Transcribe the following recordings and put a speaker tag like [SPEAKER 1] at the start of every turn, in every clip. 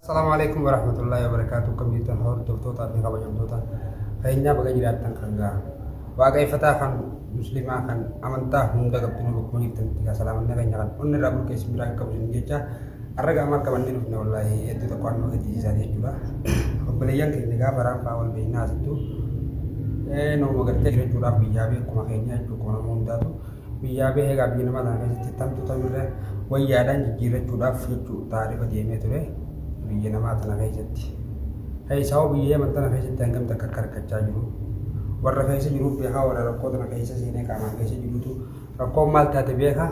[SPEAKER 1] Assalamualaikum warahmatullahi wabarakatuh Kemudian hordoftoota tabi kabajamtoota keenyaa baga jiraattan kan ga'a waaqayfataa kan muslimaa kan amantaa hunda qabxinu bakkuma jirtanitti kaa salaamanna keenya kan onni irraa bulkeessi biraan qabu jecha Har'a gaamaa qabannee dhufne wallaahi hedduu tokko waan nama gaddisiisaa jechuudha. Obboleeyyan keenya gaafa raanfaa wal beeknaa asittu nama gartee jirachuudhaaf biyyaa bee akkuma keenya jechuudha akkuma nama hundaatu biyyaa bee egaa biyya nama kana keessatti tamtu tamirra wayyaadhaan jijjiirrachuudhaaf jechuu taarifa deemee ture biyya namaa tana keessatti. Keessaa biyya yaman tana keessatti hangam takka akka rakkachaa jiru warra keessa jiruuf beekaa warra rakkoo tana keessa seenee qaamaan keessa jirutu Rakkoon maal taate beeka?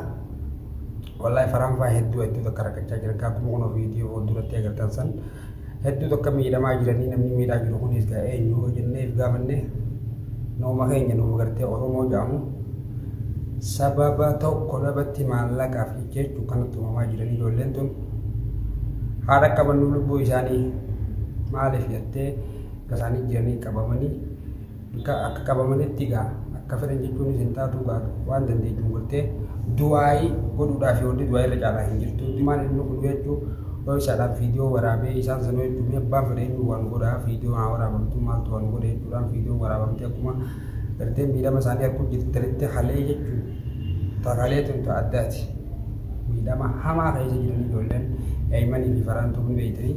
[SPEAKER 1] Wallahi faraan faa hedduu hedduu takka rakkachaa jiran kaa kuma kunoo viidiyoo fuulduratti agartan san hedduu takka miidhamaa jiranii namni miidhaa jiru kunis gaa eenyu hoo jennee if gaafanne nooma keenya nooma gartee Oromoo jedhamu sababa tokko dhabatti maallaqaaf jecha jechuun kanatti uumamaa jiranii ijoolleen tun haadha qabannu lubbuu isaanii maaliif jettee isaanii jiranii qabamanii Egaa akka qabamanitti egaa akka fedhan jechuunis hin taatu egaa waan dandeettuun godhtee du'aayii godhuudhaaf wanti du'aayii irra caalaa hin jirtu. Maal inni godhu jechuun dhooysaadhaan viidiyoo waraabee isaan sana jechuun mee abbaan fedhe inni waan godhaa viidiyoo haa waraabamtu maaltu waan godhe jechuudhaan viidiyoo waraabamtee akkuma gartee miidhama isaanii arguu jirtanitti halee jechuun takalee tun ta'a addaati. Miidhama hamaa keessa jiranii ijoolleen daa'imanii fi faraan tuqni beektanii.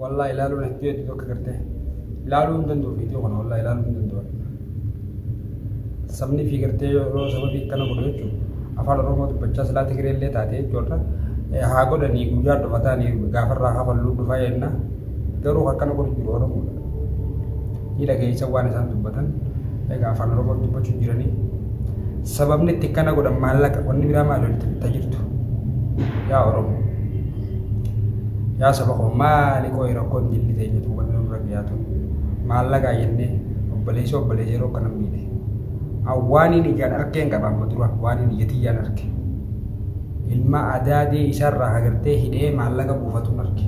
[SPEAKER 1] Wallah ilaaluun hedduu hedduu bakka gartee ilaaluu hin danda'u viidiyoo kana wallah ilaaluu hin danda'u. Sabni fi gartee yeroo sababii akkana godhu jechuudha. Afaan Oromoo dubbachaa silaa Tigiree illee taate jechuudha. Haa godhanii guyyaa dhumataan gaafarraa hafalluu dhufaa jenna. Garuu akkana godhu jiru Oromoodha. Ni dhageessa waan isaan dubbatan. Egaa afaan Oromoo dubbachuu jiranii. Sababni itti akkana godhan maallaqa wanni biraa maal walitti bittaa jirtu. Yaa Oromoo. Yaa saba koo maali qooyi rakkoon jilli teenya tuubanni nurra gayaa tun maallaqa jennee obboleessa obboleessa yeroo kana miidhe. An waaniin ijaan arkeen qaba amma dura waaniin ija tiyyaan arke. Ilma adaadee isarraa hagartee hidhee maallaqa buufatuun arke.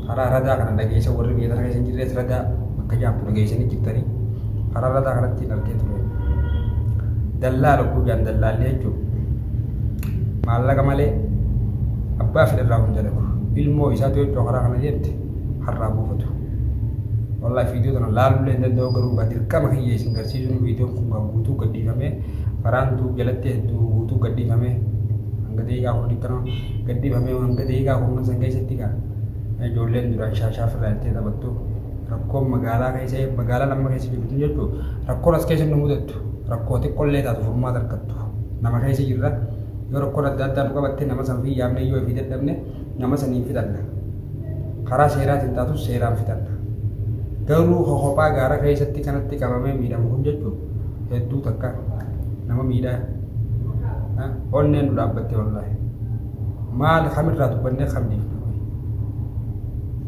[SPEAKER 1] Karaa radaa kana dhageessa warri biyya sana keessa hin jirres radaa bakka jaamtu dhageessanii jirtanii karaa radaa kanatti hin arkee ture. Dallaa lukkuu jaan dallaallee jechuudha. maallaqa malee abbaa fedhe irraa hunda lagu ilmoo isaatu yoo cookaraa kana jette har'aa buufatu. Wallahi viidiyoo kana laaluu hin danda'u garuu gaa dirqama kiyya isin garsiisuun viidiyoon kun gaa guutuu gadhiifamee faraan tuu jalatti hedduu guutuu gadhiifamee hanga daqiiqaa kudha digdama gadhiifamee hanga daqiiqaa kudha san keessatti gaa ijoolleen duraan shaashaa firraa jettee taphattu rakkoon magaalaa keessa magaalaa lamma keessa jirtu jechuun rakkoon as keessa nu mudattu Rakkoo xiqqollee taatu furmaata argattu. Nama keessa jirra. Yoo rakkoon adda addaa nu qabatte nama san ofii yaamnee yoo ifii dadhabne nama saniin fixanna. Karaa seeraatiin taatus seeraan fixanna. Garuu ka kophaa gaara keessatti kanatti qabamee miidhamu kun jechuun hedduu takka nama miidhaa. Onneen nu dhaabbatte wallaahi. Maal kamirraa dubbannee kam dhiifna?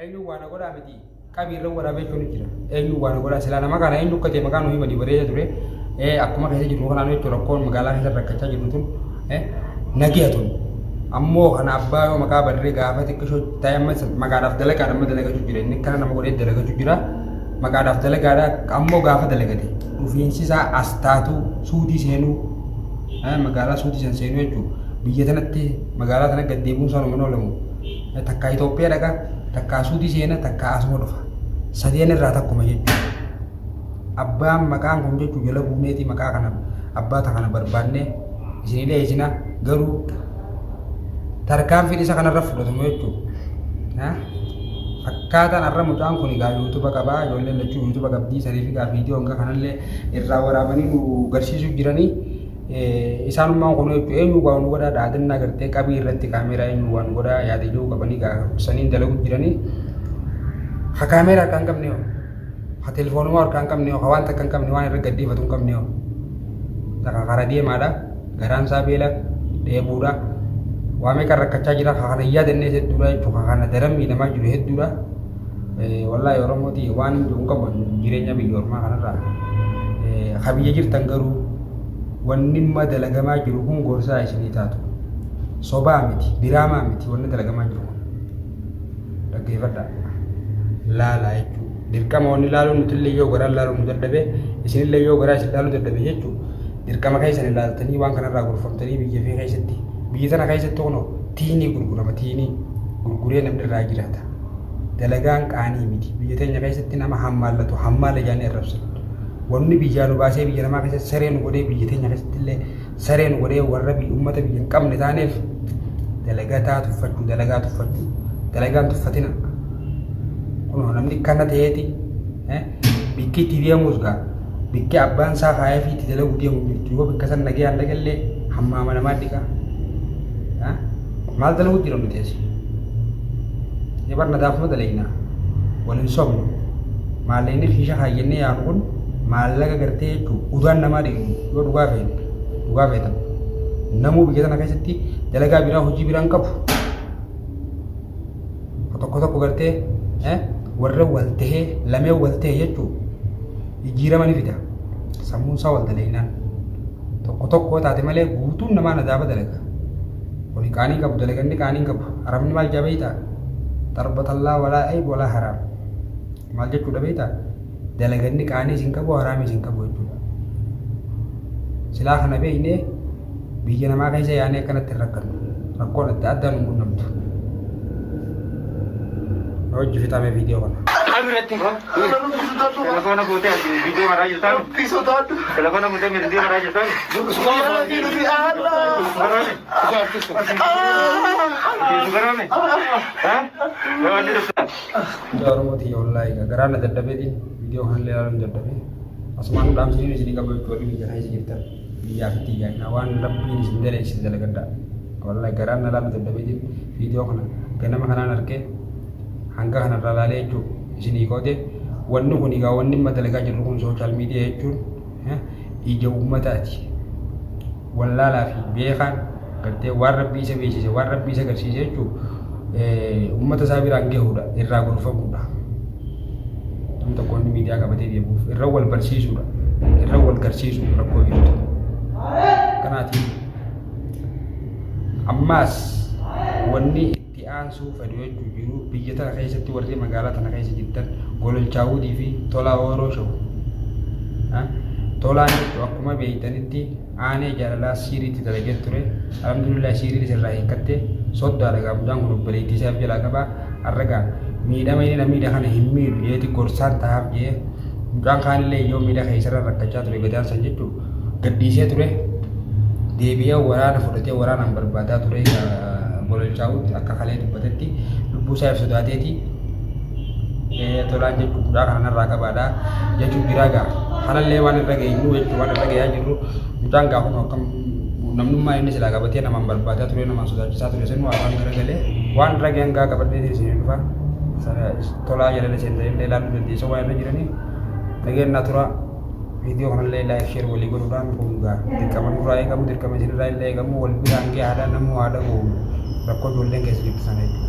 [SPEAKER 1] Eenyuun waa na godhaa miti. Qabii irra waraabee jechuun jira. Eenyuun waa na godhaa silaa nama kana eenyu akka ta'e maqaan nuyi badii bareeda ture. Eh, Akkuma keessa jirru kanaan jechuun rakkoon magaalaa keessa rakkachaa jirru tun eh, nagaya tun. Ammoo kana abbaa yoo maqaa barree gaafa xiqqishoo ta'e amma isa maqaadhaaf dalagaadha amma dalagachuu jira. Inni kana nama godhee dalagachuu jira. Maqaadhaaf dalagaadha ammoo gaafa dalagate. dhufiinsisaa as taatu suudii seenuu magaalaa suudii san seenuu jechuun biyya tanatti magaalaa tana gad deemuun isaan hin oolamu takkaa Itoophiyaa dhaqa takkaa suudii seena takkaa asuma dhufa sadeen irraa takkuma jechuudha. Abbaan maqaan kun jechuun jala buuneeti maqaa kana abbaa kana barbaannee isin dhiyeessina garuu tarkaanfiin isa kanarra fudhatamu jechuudha. Akkaataan arra mucaan kun egaa yuutuba qabaa ijoolleen lachuu yuutuba qabdii sariif egaa viidiyoo hanga kanallee irraa waraabanii nu garsiisuu jiranii isaanummaan kun jechuun eenyu waa nu godhaa dhaadannaa gartee qabii irratti kaameeraa eenyu waa nu godhaa yaada jedhu qabanii egaa saniin dalagu jiranii ha kaameeraa kan qabne ka telefoonuma harkaa hin qabne ka waan takka hin qabne waan irra gaddeeffatu hin qabne takka kara deemaadha garaan isaa beela dheebuudha waa meeqa rakkachaa jira ka kana hin yaadanne hedduudha jechuudha ka kana daran miidhamaa jiru hedduudha wallaahi oromooti waan hin jiru qaban jireenya biyya ormaa kanarraa ka biyya jirtan garuu wanni amma dalagamaa jiru kun gorsaa isinii taatu sobaa miti diraamaa miti wanni dalagamaa jiru kun dhaggeeffadhaa laalaa jechuudha. Dirqama wanni laaluu nuti illee yoo garaan laaluu nu dadhabe isin illee yoo garaa isin laaluu dadhabe jechuudha. Dirqama keessan ilaaltanii waan kanarraa gorfamtanii biyya fi keessatti biyya tana keessatti kunoo tiinii gurgurama tiinii gurguree namni irraa jiraata. Dalagaan qaanii miti biyya teenya keessatti nama hammaallatu hammaala jaanii arrabsan. Wanni biyyaa nu baasee biyya namaa keessatti saree nu godhee biyya teenya keessatti illee sareen godhee warra biyya uummata biyya hin qabne taaneef dalagataa tuffachuu dalagaa tuffachuu dalagaan tuffatina kunoo namni kana ta'eeti eh, bikki itti deemuus gaa bikki abbaan isaa kaayee fi itti dalaguu deemu jirtu yoo bikka san nagee hanga gallee hammaa manamaa dhiqaa Eh, maal dalaguu jira nuti asi ni barna daafuma dalagnaa wal hin sobnu maallaqni kiisha kaayyannee yaanu kun maallaqa gartee jechuun udaan namaa dhiqnu Yoo dhugaa feete, dhugaa feetan. Namuu biyya tana keessatti dalagaa biraa hojii biraan qabu. Tokko tokko gartee eh, warra wal tahee lamee wal tahee jechuun jijjiirama ni fida. Sammuun isaa wal dalaginaan. Tokko tokko taate malee guutuun namaa nadaaba dalaga. Kuni qaanii qabu dalaganni qaanii qabu. Haramni maal jaa beeytaa? Darbatallaa walaa ayib walaa haraam. Maal jechuudha beeytaa? dalaganni qaanii isin qabu haraami isin qabu jechuudha. Silaa kana beeknee biyya namaa keessa yaanee akkanatti hin rakkannu. Rakkoon adda addaa nu qunnamtu. Hojii fixamee viidiyoo kana.
[SPEAKER 2] Abirratti
[SPEAKER 3] telefoona fuutee as viidiyoo maraa jirtaan telefoona fuutee viidiyoo maraa jirtaan subaroome subaroome haa Ah mucaa oromoo tiyya
[SPEAKER 1] wallaahi gaa garaa na dadhabeetiin viidiyoo kanallee ilaaluun dadhabee asumaan dhaamsiniin isinii qaba jechuudha warri biyya keessa jirtan biyyaa fi tiyyaa naa waan rabbiin isin daleessin dalagadhaa wallaahi garaa na ilaaluun dadhabeetiin viidiyoo kana ganama kanaan argee hanga kanarraa ilaalee jechuudha isinii qoode wanni kun egaa wanni amma dalagaa jirru kun sooshaal miidiyaa jechuun eh, ija uummataati wallaalaa fi beekaan gartee waan rabbii isa beeksise waan rabbii isa garsiise jechuun uummata isaa biraan gahuudha irraa gorfamuudha. Namni tokko inni miidiyaa qabatee deemuuf irra wal barsiisuudha irra wal garsiisu rakkoo jirtu. Kanaatiif ammaas wanni itti aansuu fedhu jechuu jiru biyya tana keessatti warri magaalaa tana keessa jirtan gololchaa hudii fi tolaa ooroo shawu tolaan jechu akkuma beeytanitti aanee jaalalaa siiriitti dalagee ture alhamdulillah siiriin isirraa hiikatte soddaa dhagaa mucaan kun obboleettii isaaf jalaa qabaa arragaa miidhama inni na miidha kana hin miidhu jeeti gorsaan tahaaf jee mucaan kaanillee yoo miidha keessarra rakkachaa ture gadaan san jechuun gadhiisee ture deebi'ee waraana fudhatee waraanaan barbaadaa ture gololchaa'utti akka kalee dubbatetti lubbuu isaa if sodaateeti tolaan jechuun guddaa kanarraa qabaadha jechuun biraa ga'a halallee waan irra geenyu jechuun waan irra ga'aa jirru mucaan gaafuma akkam namnummaa inni silaa qabatee namaan barbaadaa ture namaan sodaachisaa ture sanu afaan irra galee waan irra ga'an gaa qabadhee isin dhufa tolaa jalala seenta'illee ilaaluu dandeessa waan irra jiranii dhageenyaa turaa. viidiyoo kanallee laayik sheer walii godhuudhaan kun gaa dirqama nurraa eegamu dirqama isinirraa illee eegamu wal biraan gee haadhaan namuu haadha goo rakkoo ijoolleen keessa jirtu sana jechuudha.